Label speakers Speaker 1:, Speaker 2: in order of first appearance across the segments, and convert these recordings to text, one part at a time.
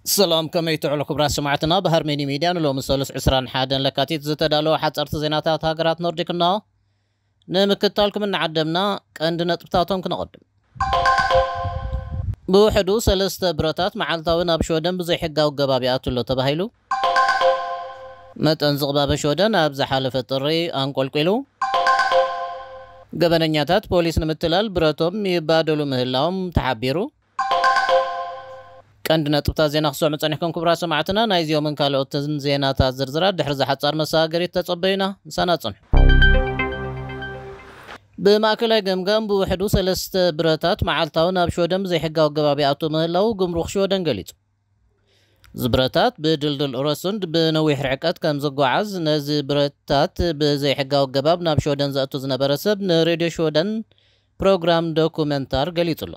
Speaker 1: ሰላም ከመይ ትዕሉ ክብራት ሰማዕትና ብሃርሜኒ ሚድያ ንሎሚ ሰሉስ 21 ለካቲት ዝተዳለወ ሓፀርቲ ዜናታት ሃገራት ኖርዲክ እና ንምክትታልኩም እናዓደምና ቀንዲ ነጥብታቶም ክነቐድም። ብውሕዱ ሰለስተ ብረታት መዓልታዊ ናብ ሽወደን ብዘይሕጋዊ ኣገባብ ይኣቱ ኣሎ ተባሂሉ። መጠን ዝቕባበ ሽወደን ኣብ ዝሓለፈ ጥሪ ኣንቆልቊሉ። ገበነኛታት ፖሊስ ንምትላል ብረቶም ይባደሉ ምህላዎም ተሓቢሩ። ቀንዲ ነጥብታት ዜና ክትሰምዑ ጸኒሕኩም ክቡራት ሰማዕትና፣ ናይ እዚኦምን ካልኦትን ዜናታት ዝርዝራት ድሕሪ እዛ ሓጻር መሰጋገሪት ተጸበዩና። ምሳና ጽንሑ። ብማእከላይ ገምጋም ብውሕዱ ሰለስተ ብረታት መዓልታዊ ናብ ሽወደን ብዘይሕጋዊ ኣገባብ ይኣቱ ምህላዉ ጉምሩክ ሽወደን ገሊጹ። እዚ ብረታት ብድልዱል ረሱንድ ብነዊሕ ርሕቀት ከም ዝጓዓዝ ነዚ ብረታት ብዘይሕጋዊ ኣገባብ ናብ ሽወደን ዘእቱ ዝነበረ ሰብ ንሬድዮ ሽወደን ፕሮግራም ዶኩመንታር ገሊጹ ኣሎ።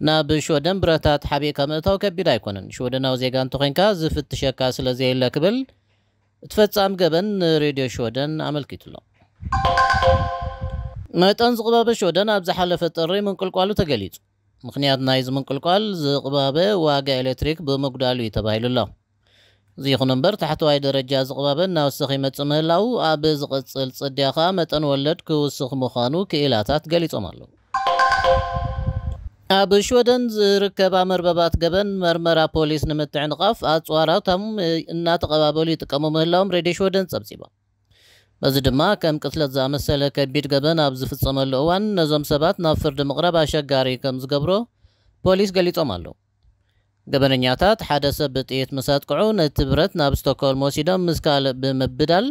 Speaker 1: ናብ ሽወደን ብረታት ሓቢእካ ምእታው ከቢድ ኣይኮነን፣ ሽወደናዊ ዜጋ እንተኾይንካ ዝፍትሸካ ስለ ዘየለ ክብል እቲ ፈጻሚ ገበን ንሬድዮ ሽወደን ኣመልኪቱ ኣሎ። መጠን ዝቕባበ ሽወደን ኣብ ዝሓለፈ ጥሪ ምንቁልቋሉ ተገሊጹ። ምኽንያት ናይዚ ምንቁልቋል ዝቕባበ ዋጋ ኤሌክትሪክ ብምጉዳሉ እዩ ተባሂሉ ኣሎ። ይኹን እምበር ታሕተዋይ ደረጃ ዝቕባበ እናወሰኸ ይመፅእ ምህላዉ ኣብ ዝቕፅል ፅድያ ከዓ መጠን ወለድ ክውስኽ ምዃኑ ክኢላታት ገሊፆም ኣለዉ። ኣብ ሽወደን ዝርከባ መርበባት ገበን መርመራ ፖሊስ ንምትዕንቓፍ ኣፅዋራቶም እናተቐባበሉ ይጥቀሙ ምህላዎም ሬድዮ ሽወደን ፀብፂባ። በዚ ድማ ከም ቅትለት ዝኣመሰለ ከቢድ ገበን ኣብ ዝፍጸመሉ እዋን ነዞም ሰባት ናብ ፍርዲ ምቕራብ ኣሸጋሪ ከም ዝገብሮ ፖሊስ ገሊጾም ኣለዉ። ገበነኛታት ሓደ ሰብ ብጥይት ምስ ኣጥቅዑ ነቲ ብረት ናብ ስቶክሆልም ወሲዶም ምስ ካልእ ብምብዳል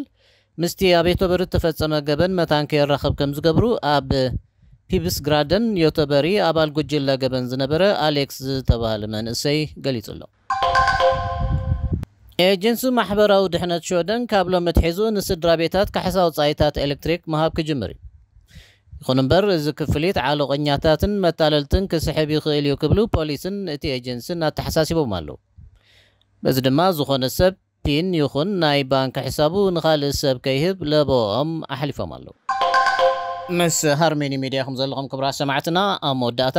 Speaker 1: ምስቲ ኣብ የቶበሪ እተፈጸመ ገበን መታን ከየራኽብ ከም ዝገብሩ ኣብ ፒብስግራደን፣ ዮተበሪ፣ ኣባል ጉጅለ ገበን ዝነበረ ኣሌክስ ዝተባህለ መንእሰይ ገሊጹ ኣሎ። ኤጀንሲ ማሕበራዊ ድሕነት ሽወደን ካብ ሎሚ ኣትሒዙ ንስድራቤታት ካሕሳ ወጻኢታት ኤለክትሪክ ምሃብ ክጅምር እዩ። ይኹን እምበር እዚ ክፍሊት ዓሎቐኛታትን መታለልትን ክስሕብ ይኽእል እዩ ክብሉ ፖሊስን እቲ ኤጀንሲን ኣተሓሳሲቦም ኣለዉ። በዚ ድማ ዝኾነ ሰብ ፒን ይኹን ናይ ባንክ ሕሳቡ ንኻልእ ሰብ ከይህብ ለበወኦም ኣሕሊፎም ኣለዉ። ምስ ሃርሜኒ ሚድያ ኢኹም ዘለኹም ክብራት ሰማዕትና ኣብ መወዳእታ።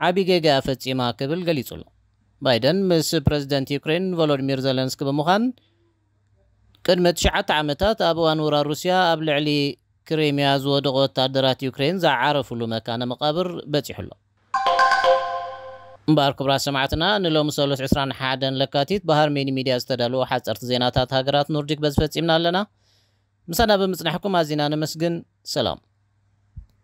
Speaker 1: ዓቢ ጌጋ እያ ፈጺማ ክብል ገሊጹ'ሎ። ባይደን ምስ ፕረዚደንት ዩክሬን ቮሎድሚር ዘለንስኪ ብምዃን ቅድሚ ትሽዓተ ዓመታት ኣብ እዋን ውራር ሩስያ ኣብ ልዕሊ ክሬምያ ዝወደቑ ወተሃደራት ዩክሬን ዝዓረፍሉ መካነ መቓብር በጺሑ ኣሎ። እምበኣር ክቡራት ሰማዕትና ንሎሚ ሰሉስ ዕስራን ሓደን ለካቲት ብሃርሜኒ ሚድያ ዝተዳልዉ ሓጸርቲ ዜናታት ሃገራት ኖርዲክ በዚ ፈጺምና ኣለና። ምሳና ብምጽናሕኩም ኣዚና ነመስግን። ሰላም።